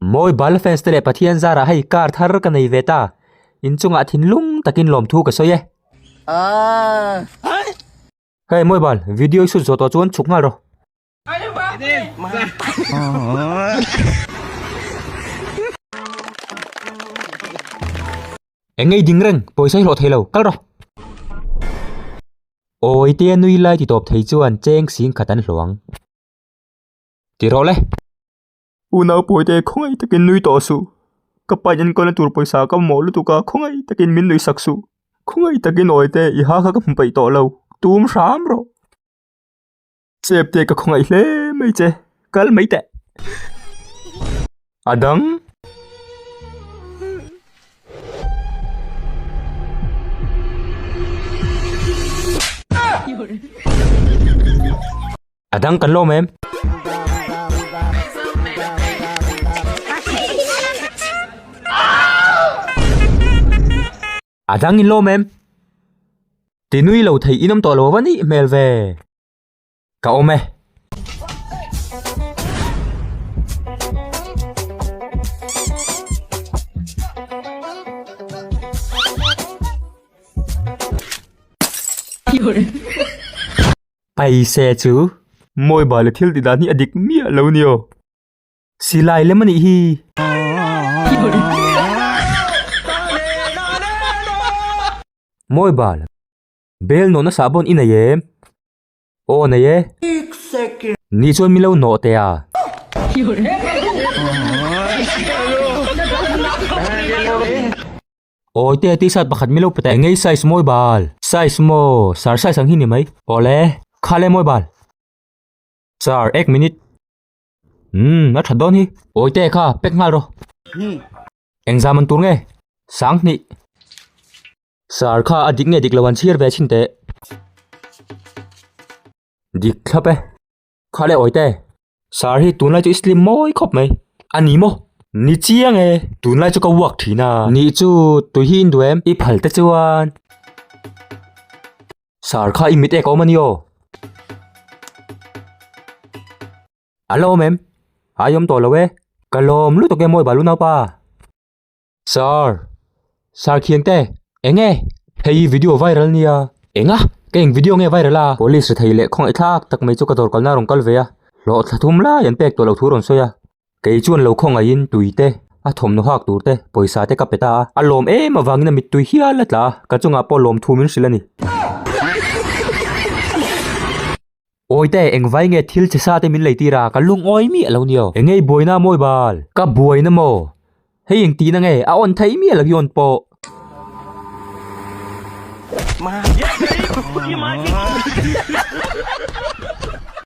Mawi bal fans te leh Pathian zara hei kar thar ka nei ve ta. In chungah thinlung takin lawmthu ka sawi e. Hei mawi bal, video i shoot zawh tawh chuan chhuk nghal rawh. Eng nge i ding reng? Pawisa i hlawh thei lo, kal rawh! Awi tia nui lai ti tawp thei chuan cheng sing khat an hluang. Ti rawh le! Unau Pawite khawngaih takin nui tawh suh. Ka pa in an kawlna tur pawisa ka mawh lutuk a, khawngaih takin min nui sak suh. Khawngaih takin Awite i ha kha ka hmu peih tawh lo. Tum hram rawh! Chep te ka khawngaih hle mai che kal mai teh adang adang kan lo mem A dang in lawm em? Ti nui lo thei in awm tawh lo va nih hmel ve. Ka awm e. Paise chu. Mawiba leh thil ti dan hi a dik miah lo ni aw. Silai lem anih hi. Mawi bal. Bel nawh nasa bon i nei em? Aw nei e. Nih chuan milo nawh teh a. Awi te tshirt pakhat milo pe teh. Engei size mawi bal. Size maw? Sir size ang hi ni mai. Awle. Khale mawi bal. Sir, ek minute. Umm a that dawn hi. Awi te kha pek nghal rawh. Eng zam an tur nge? Sang hnih. Sir kha a dik nge dik lo an chhir ve chhin teh. Dik thlap e. Kha le awi te. Sir hi tunlai chu i slim mawi khawp mai. A ni maw? Ni chiang e. Tunlai chu ka vuak thin a. Ni chu tui hi in duh em? I phal te chuan. Sir kha i mit ek awm a ni aw. An la awm em? Ai awm tawh lo e. Ka lawm lutuk em aw i balu naupa. Sir, Sir Khiang te, eng e? Hei hi video viral nia. Enga? Ka eng video nge viral a? Police ri thei leh khawngaih thlak tak mai chu ka dawr kalna a rawn kal ve a. Hlawhthlathum lai an pek tawh loh thu a rawn sawi a. Kei chuan lo khawngahin tui te, a thawmhnaw hak tur te, pawisa te ka pe ta a, a lawm em avangin a mittui hial a tla a, ka chungah pawh lawm thu min hrilh a ni. Awite, engvai nge thil che sa te min lei tir a, ka lung awi miah lo ni aw, engei buaina a mawi bal? Ka buaina maw? Hei eng tihna nge a awn theih miah lo hi awn pawh.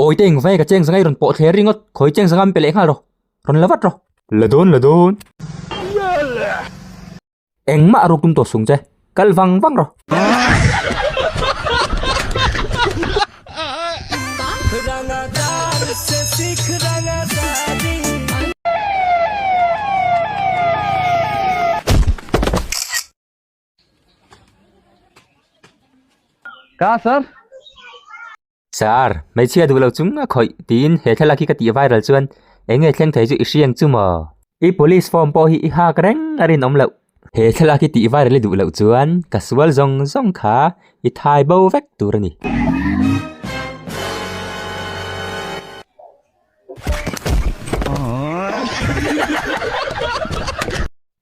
Awite engvai ka cheng zanga i rawn pawh thler ring aw, khawi cheng zanga min pe leh nghal rawh, rawn la vat rawh. La dawn la dawn. Engmah a ruk tum tawh sung che, kal vang vang rawh. Ka sir. Sir, hmeichhia duh lo chu nga khawih tiin he thlalak hi ka tih viral chuan eng nge thleng thei chu i hriang chu maw? I police form pawh hi i hak reng a rinawm loh. He thlalak hi tih viral i duh loh chuan ka sual zawng zawng kha i thai bo vek tur a ni.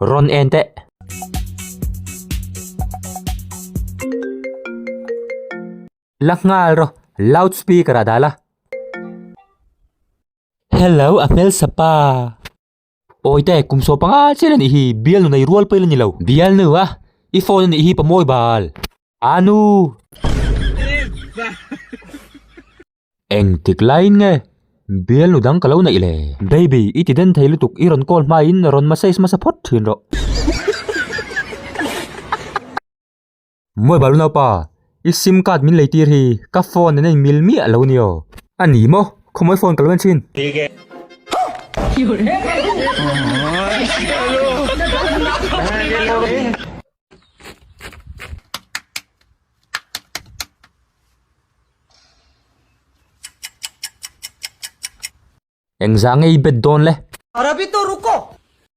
Rawn en teh. La nghal rawh, loud speaker ah dah la. Hello a hmel sapa. Awi te, kum saw panga chian anih hi, Bialnu nei rual pawh ila nilo. Bialnu a, i phone anih hi pamawi bal. Anu! Engtik laiin nge Bialnu dang ka lo neih le. Baby, i ti den thei lutuk, i rawn call hmain rawn massage masa phawt thin rawh. Mawi balu naupa, i sim card min lei tir hi ka phone an inmil miah lo ni aw? A ni maw? Khawmual phone ka lo en thin. Engzah nge i bet dawn le?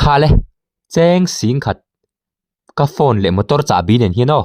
Khal e, cheng sing khat ka phone leh motor chahbi nen hian aw.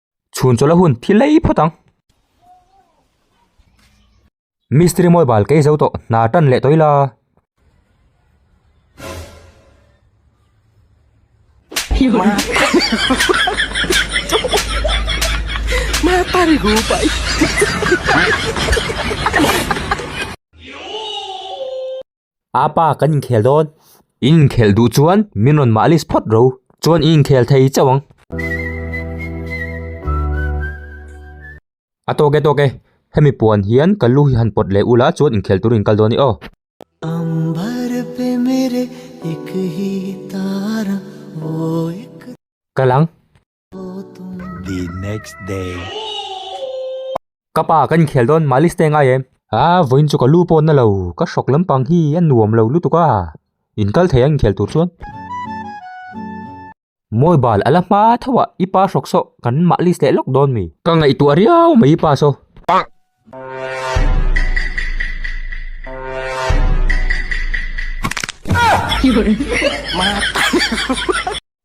Chhun chawlh a hun thi lei phawt ang. Mistri mawi bal kei zo tawh hna tan leh tawi la. A pa kan inkhel dawn. In inkhel duh chuan min rawn mah lis phawt ro. Chuan in inkhel thei chauh ang. A tawk e tawk e, hemi puan hian ka lu hi han pawt leh ula chuan inkhel turin kal dawn a ni aw. Kal ang. The next day. Ka pa ka inkhel dawn, Malice te a ngai em? A vawiin chu ka lu pawn na lo, ka hrawk lampang hi a nuam lo lutuk a, in kal thei a inkhel tur chuan. Mobile a la hma tho ah i pa hrawk saw kan Malice leh lawk dawn mi. Ka ngaihtuah riau mai i pa saw. Pang!